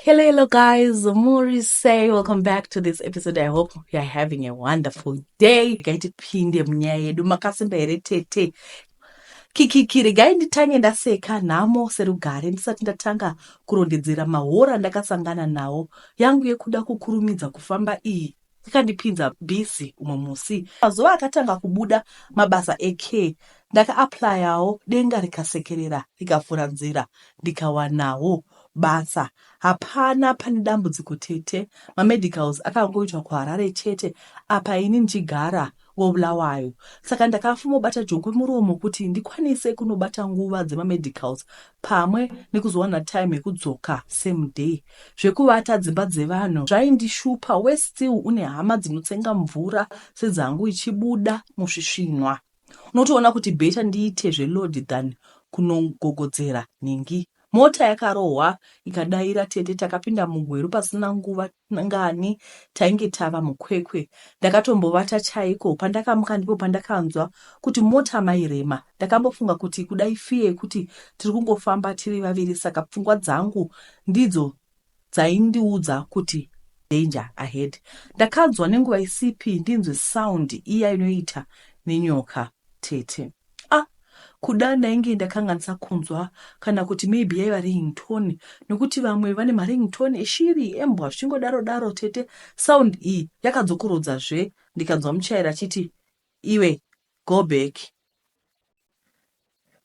Hello, hello, guys. Mori say welcome back to this episode. I hope you are having a wonderful day. Gaiti pinde munyaya yedu makasimba here tete kikiki regai nditange ndaseka nhamo serugare ndisati ndatanga kurondedzera mahora ndakasangana nawo yangu yekuda kukurumidza kufamba iyi ikandipinza busy umwe musi mazuva akatanga kubuda mabasa ecare ndakaaplayawo denga rikasekerera rikavhura nzira ndikawanawo basa hapana pane dambudziko tete mamedicals akangoitwa kuharare chete apa ini ndichigara Wo Bulawayo. Saka ndakafumobata jongwe muromo kuti ndikwanise kunobata nguva dzema medicals pamwe nekuzowana time yekudzoka same day. Zvekuvata dzimba dzevanhu zvaindishupa worse still une hama dzinotsenga mvura sedzangu ichibuda musvisvinwa. Unotoona kuti better ndiite zve load than kunogogodzera nhingi. Mota yakarohwa ikadaira tete takapinda mugweru pasina nguva. ngani tainge tava muKwekwe ndakatombovata chaiko pandakamuka ndipo pandakanzwa kuti mota mai Rema ndakambofunga kuti kuda ifee yekuti tiri kungofamba tiri vaviri saka pfungwa dzangu ndidzo dzaindiudza kuti danger ahead ndakanzwa nenguva isipi ndinzwe sound iya inoita nenyoka tete Ah kuda ndainge ndakanganisa kunzwa kana kuti maybe yaiva ringtone nokuti vamwe vane maringtone eshiri, embwa zvichingodaro daro tete sound iyi yakadzokorodza zve ndikanzwa muchairi achiti iwe go back.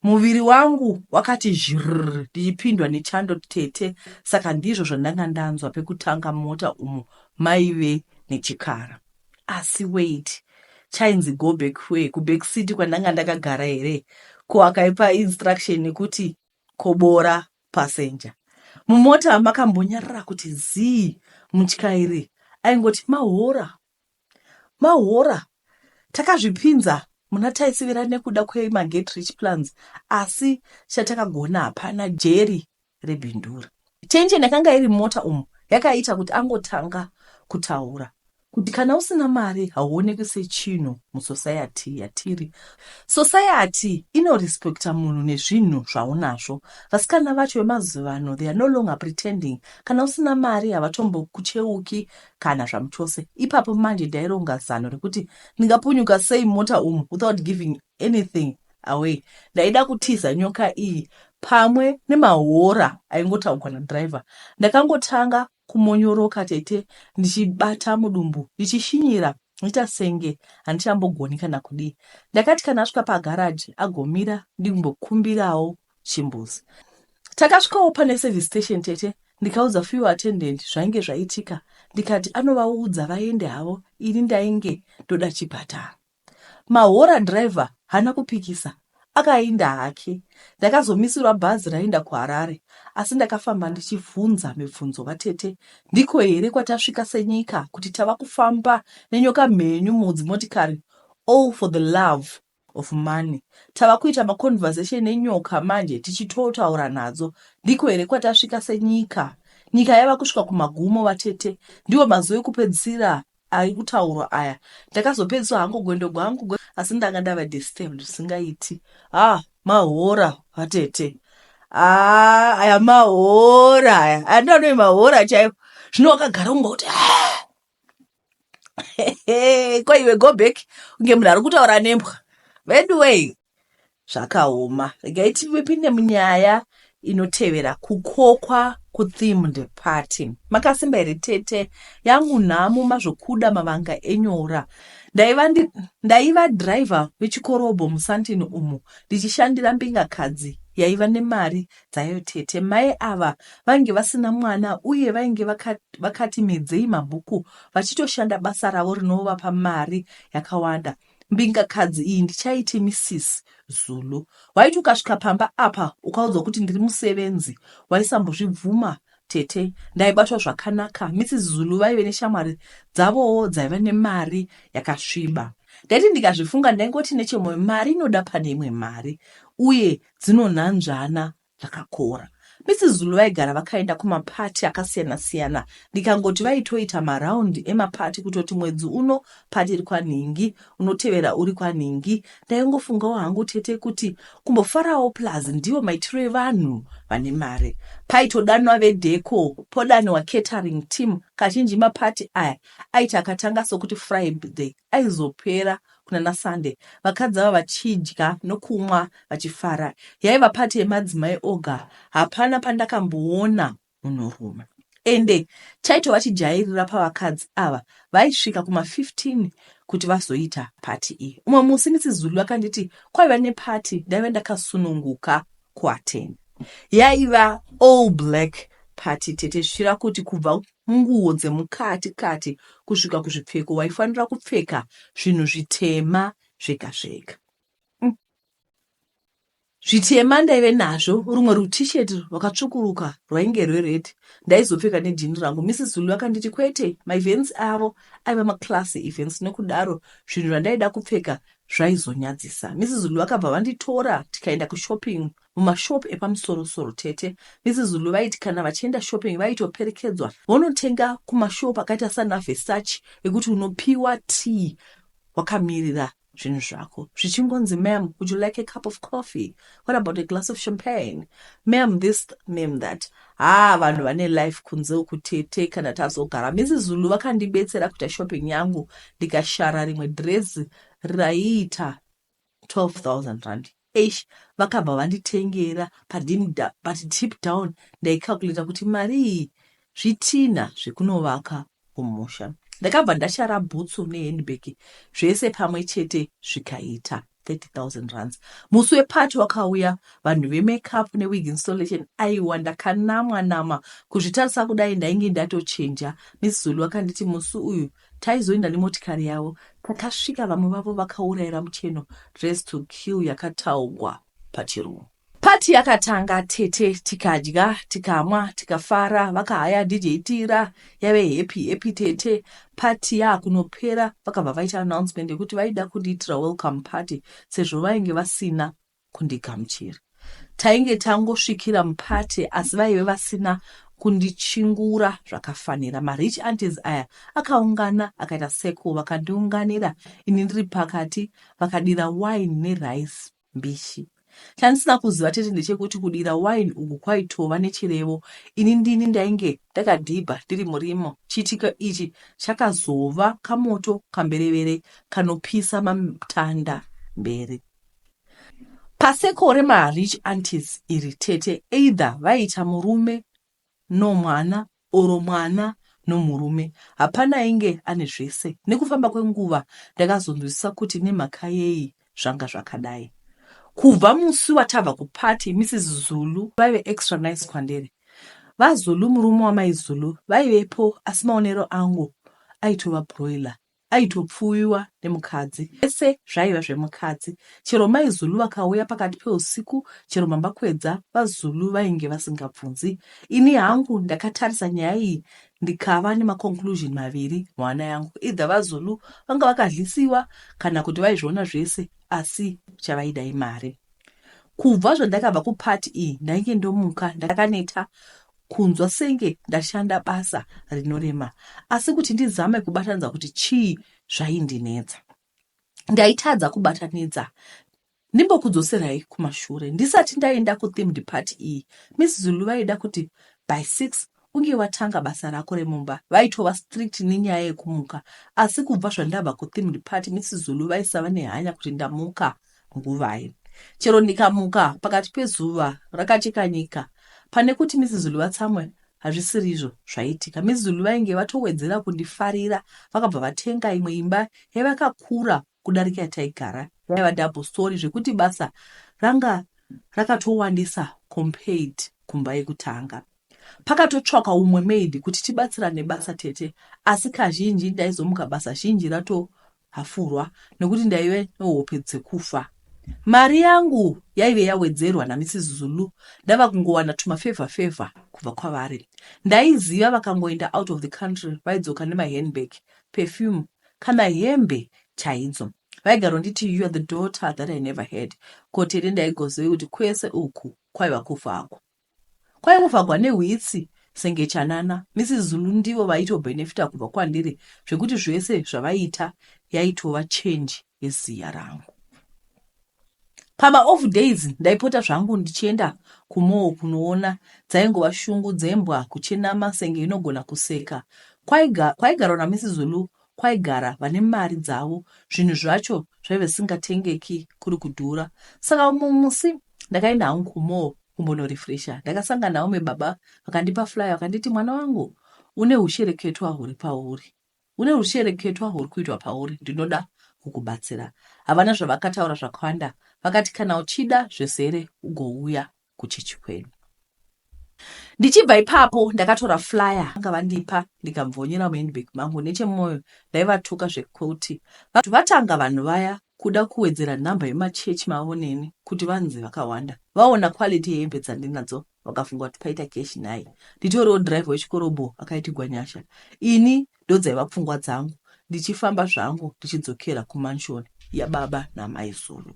Muviri wangu wakati zhrrr ndichipindwa nechando tete saka ndizvo zvandanga ndanzwa pekutanga mumota umo maive nechikara. Asi wait, chainzi go back where? Kuback city kwandanga ndakagara here? Ko akaipa instruction yekuti kobora passenger. Mumota makambonyarara kuti zii, mutyairi aingoti mahora mahora. Takazvipinza muna taisivira nekuda kwemaget rich plans asi chatakagona hapana. Jerry rebindura. Tension yakanga iri mumota umu yakaita kuti angotanga kutaura kuti kana usina mari hauonekwi sechinhu musociety yatiri. Society inorespecta munhu nezvinhu zvaunazvo. Vasikana vacho vemazuvano they are no longer pretending. Kana usina mari havatombokucheuki kana zvamuchose. Ipapo manje ndaironga zano rekuti ndingapunyuka sei mumota umu without giving anything Away ndaida kutiza nyoka iyi pamwe nemahora aingotaugwa nadriver. Ndakangotanga kumonyoroka tete ndichibata mudumbu ndichishinyira ndoita senge handichambogoni kana kudii. Ndakati kana asvika pagaraji agomira ndimbokumbirawo chimbuzi. Takasvikawo pane service station tete ndikaudza few attendant zvainge zvaitika ndikati anovaudza vaende havo ini ndainge ndoda chipatara. Mahora driver hana kupikisa akainda hake. Ndakazomisirwa bhazi rainda kuHarare asi ndakafamba ndichivhunza mibvunzo vatete ndiko here kwatasvika senyika kuti tava kufamba nenyoka mhenyu mudzimotikari all for the love of money tava kuita maconversation nenyoka manje tichitotaura nadzo ndiko here kwatasvika senyika nyika yava kusvika kumagumo vatete ndiwo mazuva ekupedzisira Ari kutaurwa aya ndakazopedziswa hangu gwendo gwangu asi ndanga ndava disturbed zvisingaiti ah mahora vatete ah aya mahora aya aya ndoanove mahora chaivo zvino wakagara kunga kuti ah! ko iwe go back kunge munhu ari kutaura nembwa veduwei zvakaoma regai tipinde munyaya inotevera kukokwa kuthemed party makasimba here tete yangu nhamo mazvokuda mavanga enyora ndaiva ndi, ndaiva driver wechikorobho musantini umo ndichishandira mbingakadzi yaiva nemari dzayo tete mai ava vainge vasina mwana uye vainge vakati medzei mabhuku vachitoshanda basa ravo rinovapa mari yakawanda Mbingakadzi iyi ndichaiti Mrs Zulu. Waiti ukasvika pamba apa ukaudzwa kuti ndiri musevenzi waisambozvibvuma tete ndaibatwa zvakanaka mrs zulu vaive neshamwari dzavowo dzaiva nemari yakasviba ndaiti ndikazvifunga ndaingoti nechemoyo mari inoda pane imwe mari uye dzinonhanzvana zvakakora. Misi Zulu vaigara vakaenda kumaparty akasiyana siyana ndikangoti vaitoita maround emaparty kutoti mwedzi uno party iri kwanhingi unotevera uri kwanhingi. Ndaingofungawo hangu tete kuti kumbofarawo plus ndivo maitiro evanhu vane mari. Paitodanwa vedeko podaniwa catering team kazhinji maparty aya aiti akatanga sokuti Friday aizopera kuna naSande vakadzi ava vachidya nokumwa vachifara. Yaiva party yemadzimai oga hapana pandakamboona munhurume. Ende chaitova chijairira pavakadzi ava vaisvika kuma 15 kuti vazoita party iyi. Umwe musi Mrs Zulu vakanditi kwaiva neparty ndaive ndakasununguka kuatenda yaiva all black party tete zvichira kuti kubva munguwo dzemukati kati kusvika kuzvipfeko waifanira kupfeka zvinhu zvitema zvega zvega mm. zvitema ndaive nazvo rumwe rutishet rwakatsvukuruka rwainge rwered ndaizopfeka nejini rangu mrs zulu vakanditi kwete maevents avo aiva maclassy events nokudaro zvinhu zvandaida kupfeka Zvaizonyadzisa. Mrs Lu vakabva vanditora tikaenda kushopping mumashop epamusoro soro tete. Mrs Lu vaiti kana vachienda shopping vaitoperekedzwa vonotenga kumashop akaita sana Versace ekuti unopiwa tea wakamirira zvinhu zvako zvichingonzi mam would you like a cup of coffee what about a glass of champagne mam this mam that Haa vanhu vane life kunze uku tete kana tazogara Mrs Zulu vakandibetsera kuita shopping yangu ndikashara rimwe dress raiita 12000 rand eish vakabva vanditengera but deep down ndaicalculator kuti mari iyi zvitinha zvekunovaka kumusha. Ndakabva ndashara bhutsu nehandbag zvese pamwe chete zvikaita 30,000 rands. Musi weparty wakauya vanhu vemaceup newig installation aiwa ndakanamwa nama kuzvitarisa kudai ndainge ndatochinja. Miss Zulu vakanditi musi uyu taizoenda nemotikari yavo takasvika vamwe vavo vakaurayira mucheno dress to kill yakataugwa pachirungu. Party yakatanga tete tikadya tikamwa tikafara vakahaya DJ Tira yave happy happy tete party yakunopera vakabva vaita announcement yekuti vaida kundiitira welcome party sezvo vainge vasina kundigamuchira. Tainge tangosvikira muparty asi vaive vasina kundichingura zvakafanira. Marich aunties aya akaungana akaita circle vakandiunganira ini ndiri pakati vakadira wine nerice. mbishi chandisina kuziva chete ndechekuti kudira wine uku kwaitova nechirevo ini ndini ndainge ndakadhibha ndiri murimo chiitiko ichi chakazova kamoto kamberevere kanopisa matanda mberi pasekore marich antis iri tete either vaita murume no mwana or mwana no murume hapana ainge ane zvese nekufamba kwenguva ndakazonzwisisa kuti nemhakayei zvanga zvakadai kubva musi watabva kuparty Mrs Zulu vaive extra nice kwandiri VaZulu murume wamai Zulu vaivepo asi maonero angu aitova broiler aitopfuwiwa nemukadzi ese zvaiva zvemukadzi chero mai zulu vakauya pakati peusiku chero mamba kwedza vazulu vainge vasingabvunzi ini hangu ndakatarisa nyaya iyi ndikava nemaconclusion maviri mwana yangu idha vazulu vanga vakadlisiwa kana kuti vaizviona zvese asi chavaida imari kubva zvandakabva kupati iyi ndainge ndomuka ndakaneta kunzwa senge ndashanda basa rinorema asi kuti ndizame kubatanidza kuti chii zvaindinetsa ndaitadza kubatanidza ndimbokudzoserai kumashure ndisati ndaenda kuthemed party iyi miss zulu vaida kuti by six unge watanga basa rako remumba vaitova strict nenyaya yekumuka asi kubva zvandabva kuthemed party miss zulu vaisava nehanya kuti ndamuka nguvai. Chero ndikamuka pakati pezuva rakacheka nyika, pane kuti Mrs. Zulu vatsamwe hazvisirizvo zvaiitika. Mrs. Zulu vainge vatowedzera kundifarira vakabva vatenga imwe imba yavakakura kudarika yataigara yaiva double story zvekuti basa ranga rakatowandisa compared kumba yekutanga. Pakatotsvakwa umwe maid kuti tibatsirane basa tete asi kazhinji ndaizomuka basa zhinji ratohafurwa nekuti ndaive nehope dzekufa. Mari yangu yaive yawedzerwa naMrs Zulu ndava kungowana tumafevha fevha kubva kwavari. Ndaiziva vakangoenda out of the country vaidzoka nemahandbag, perfume kana hembe chaidzo. Vaigaronditi you are the daughter that I never had. Ko tete ndaigozivei kuti kwese uku kwaiva kufa hako. kwaingofagwa nehwitsi senge chanana. Mrs Zulu ndivo vaito benefita kubva kwandiri zvekuti zvese zvavaiita yaitova change yeziya rangu. Pama off days ndaipota zvangu ndichienda kumall kunoona dzaingova shungu dzembwa kuchenama senge inogona kuseka kwaigarwa naMrs Zulu kwaigara vane mari dzavo zvinhu zvacho zvaive zvisingatengeki kuri kudhura saka umwe musi ndakaenda hangu kumall kumbonorefresha ndakasanga naome baba vakandipa flyer vakanditi mwana wangu une hushereketwa huri pauri une hushereketwa huri kuitwa pauri ndinoda kukubatsira havana zvavakataura zvakawanda vakati kana uchida zvesere ugouya kuchechi kwedu ndichibva ipapo ndakatora flyer anga vandipa ndikabvonyera muhandbag mangu nechemwoyo ndaivatuka zvekuti vanhu vatanga vanhu vaya kuda kuwedzera nhamba yemachechi mavo neni kuti vanzi vakawanda vaona quality yehembe dzandinadzo vakafunga kuti paita keshi nhai nditoriwo drive wechikorobho akaitigwa nyasha ini Ndodzaiva pfungwa dzangu ndichifamba zvangu ndichidzokera kumanshoni yababa namai Zulu.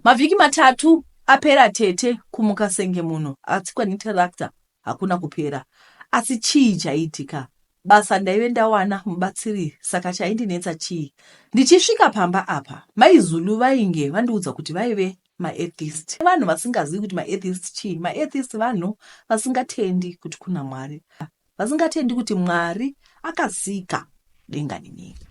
Mavhiki matatu apera tete kumuka senge munhu atsikwa netarakta hakuna kupera. Asi chii chaiitika? Basa ndaive ndawana mubatsiri saka chaindinetsa chii? Ndichisvika pamba apa mai Zulu vainge vandiudza kuti vaive maatheist vanhu vasingazivi kuti maatheist chii maatheist vanhu vasingatendi kuti kuna mwari vasingatendi kuti Mwari akasika denga nenyika,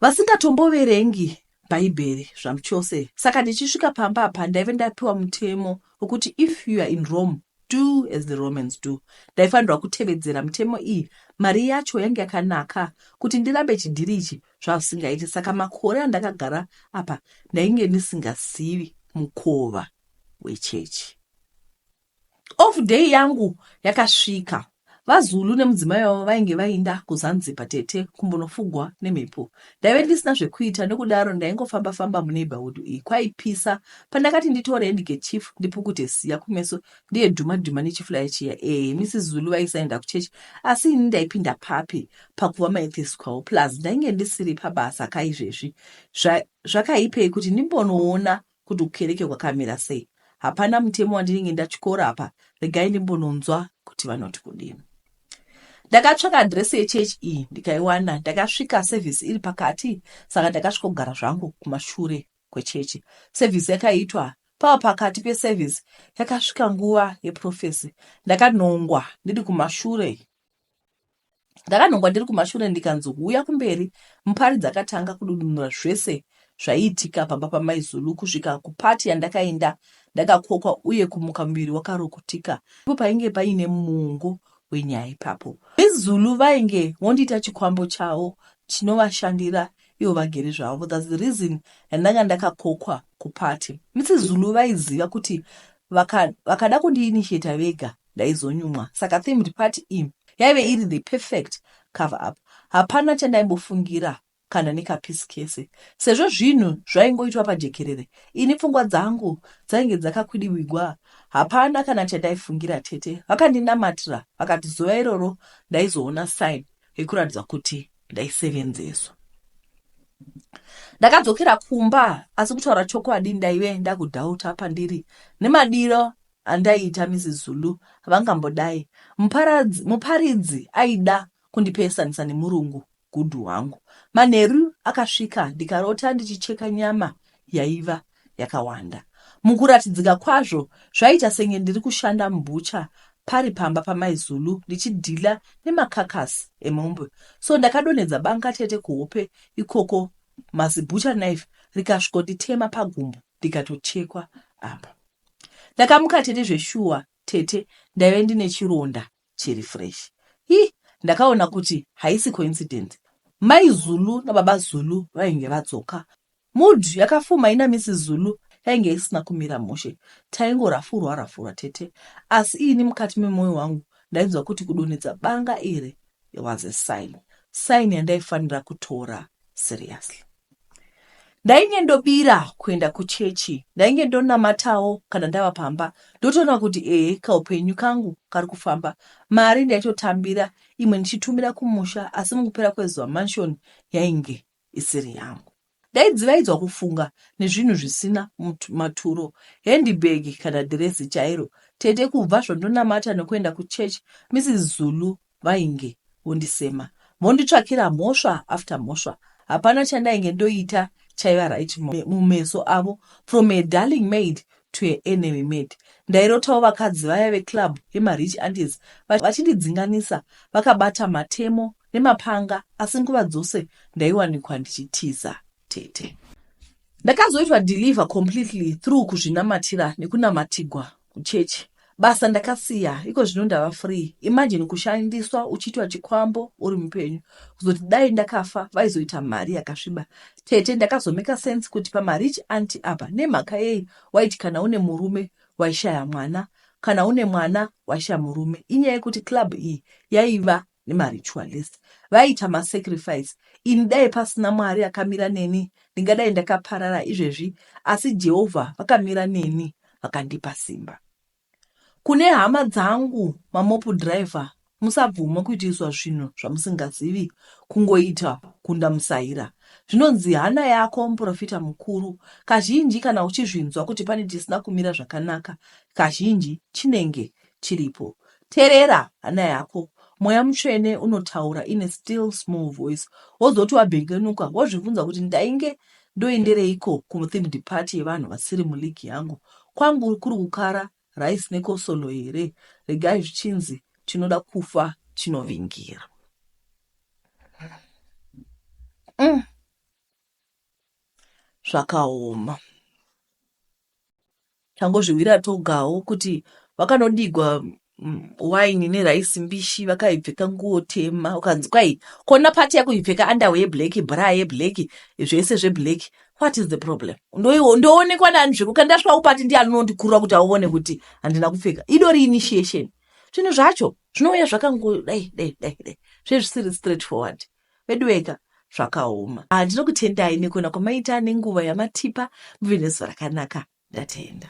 vasingatomboverengi Bhaibheri zvamuchose. Saka ndichisvika pamba apa ndaive ndapiwa mutemo wekuti if you are in Rome do as the Romans do. Ndaifanirwa kutevedzera mutemo iyi. Mari yacho yange yakanaka kuti ndirambe chidhiri ichi zvasingaiti. Saka makore andakagara apa ndainge ndisingazivi mukova wechechi. Off day yangu yakasvika. VaZulu nemudzimai wavo vainge vainda kuZanzibar tete kumbonofugwa nemhepo. Ndaive ndisina zvekuita nekudaro ndaingofamba famba muneighborhood iyi kwaipisa pandakati nditore handkerchief ndipukute siya kumeso ndiye dhuma dhuma nechiflaya chiya. Eh Mrs Zulu vaisaenda kuchurch asi ini ndaipinda papi pakuva maethesi kwavo plus ndainge ndisiri pabasa kaizvezvi zvakaipei kuti ndimbonoona Kuti hukereke hwakamira sei hapana mutemo wandinenge ndatyora apa regai ndimbononzwa kuti vanoti kudini. Ndakatsvaka adhiresi yechechi iyi ndikaiwana. Ndakasvika sevhisi iri pakati saka ndakasvikogara zvangu kumashure kwechechi. Sevhisi yakaitwa pava pakati pesevhisi yakasvika nguva yeprofesi. Ndakanongwa ndiri kumashure Ndakanhongwa ndiri kumashure ndikanzi huya kumberi. Mupari dzakatanga kududunura zvese zvaiitika pamba pamai Zulu kusvika kupati yandakaenda ndakakokwa uye kumuka muviri wakarukutika. Ipo painge paine muungo wenyaya ipapo. Mai Zulu vainge vondiita chikwambo chavo chinovashandira ivo vagere zvavo. That's the reason yandanga ndakakokwa kupati. Mrs Zulu vaiziva kuti vaka, vakada kundiinitiator vega ndaizonyumwa saka themed party iyi yaive iri the perfect cover up hapana chandaimbofungira kana nekapisi kese sezvo zvinhu zvaingoitwa pajekerere ini pfungwa dzangu dzainge dzakakwidiwigwa hapana kana chandaifungira tete vakandinamatira vakati zuva iroro ndaizoona sign yekuratidza kuti ndaisevenzeswa ndakadzokera kumba asi kutaura chokwadi ndaive ndakudhauta pandiri nemadiro andaiita Mrs Zulu havangambodai muparadzi muparidzi aida kundipeesanisa nemurungu gudhu wangu manheru akasvika ndikarota ndichicheka nyama yaiva yakawanda mukuratidzika kwazvo zvaiita senge ndiri kushanda mubhucha pari pamba pamai Zulu ndichidhila nemakakasi emombe so ndakadonhedza banga tete kuhope ikoko mazibhucha knife rikasvikonditema pagumbo ndikatochekwa apa Ndakamuka tete zveshuwa tete ndaive ndine chironda chiri fresh. Hi ndakaona kuti haisi coincidence. Mai Zulu nababa Zulu vainge vadzoka. Mood yakafuma ina Miss Zulu yainge isina kumira mushe. Taingo rafurwa rafurwa tete asi ini mukati memoyo wangu ndainzwa kuti kudonhedza banga iri was a sign. Sign yandaifanira kutora seriously. ndainge ndobira kuenda kuchechi ndainge ndonamatawo kana ndava pamba ndotoona kuti ehe kaupenyu kangu kari kufamba mari ndaitotambira imwe ndichitumira kumusha asi mukupera kwezuva manshoni yainge isiri yangu ndaidzivaidzwa kufunga nezvinhu zvisina maturo handibag kana dhiresi chairo tete kubva zvandonamata nekuenda kuchechi mrs zulu vainge vondisema vonditsvakira mhosva after mhosva hapana chandainge ndoita chaiva right mumeso avo from a darling maid to a enemy maid ndairotawo vakadzi vaya veclub yemarich andes vachindidzinganisa vakabata matemo nemapanga asi nguva dzose ndaiwanikwa ndichitiza tete ndakazoitwa deliver completely through kuzvinamatira nekunamatigwa kuchechi basa ndakasiya iko zvino ndava free imagine kushandiswa uchiitwa chikwambo uri mupenyu kuzoti dai ndakafa vaizoita mari yakasviba tete ndakazomeka sense kuti pamarich anti apa nemhaka yei waiti kana une murume waishaya mwana kana une mwana waishaya murume inyaya yekuti club iyi yaiva nemaritualist vaiita masacrifice ini dai pasina mwari akamira neni ndingadai ndakaparara izvezvi asi jehovha vakamira neni vakandipa simba kune hama dzangu mamopu driver musabvuma kuitiswa zvinhu zvamusingazivi kungoita kunda musaira zvinonzi hana yako muprofita mukuru kazhinji kana uchizvinzwa kuti pane chisina kumira zvakanaka kazhinji chinenge chiripo. Terera hana yako, Mweya Mutsvene unotaura in a still small voice. Wozoti wabengenuka wozvibvunza kuti ndainge ndoendereiko kuthemed party yevanhu vasiri muleague yangu. Kwangu kuri kukara rice nekosolo here? Regai zvichinzi chinoda kufa chinovingira. Mm. Zvakaoma. tangozvihwira togawo kuti vakanodigwa mm, wine neraisi mbishi vakaipfeka nguo tema ukanzi kwai kona pati yako ipfeka andawo yeblack bra yeblack zvese zveblack what is the problem Ndoiwo- ndoonekwa nani zvekuka ndasvawo pati ndiani unondikurura kuti aone kuti handina kupfeka idori initiation zvinhu zvacho zvinouya zvakangodai dai dai dai zvezvisiri straight forward veduweka zvakaoma ah, ndinokutendai nekuona kwamaita nenguva yamatipa muve nezuva rakanaka ndatenda